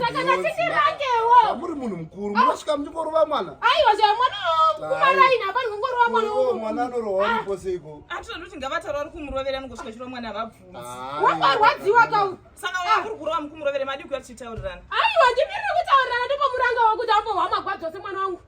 Saka ngatindirangewo. Muri munhu mukuru, munosvika muchingorova mwana. Aiwa zve mwana kumaraini hapa ndingorova mwana. Oh, mwana anorowa ah. ndipo seiko. Atinoda kuti ngavatarwa ri kumurovera ngosvika chiro mwana vabvunza. Ah, Wakarwadziwa ka. Saka ah. wakuri kurova mukumurovera madi kuya tichitaurirana. Aiwa ndimire kutaurirana ndipo muranga wakuti apo hwamagwadzwa semwana wangu.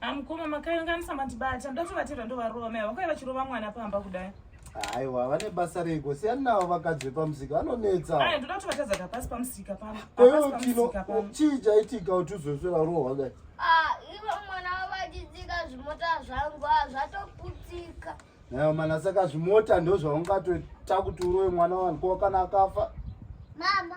Amukoma makayanganisa mandibata ndoda kutovatirwa ndovarova mai vakauya vachirova mwana pamba kudai. Aiwa vane basa rego siyani navo vakadzi vepamusika vanonetsa. Aya ndoda kutovatadza kapasi pamusika pamba. Koyo kino chii chaitika kuti uzosvera roho wakati. Ah ivo mwana wavachidzika zvimota zvangu ah, zvatoputika. Nayo mana saka zvimota ndozvaungatoita kuti urowe mwana wangu kana akafa. Mama.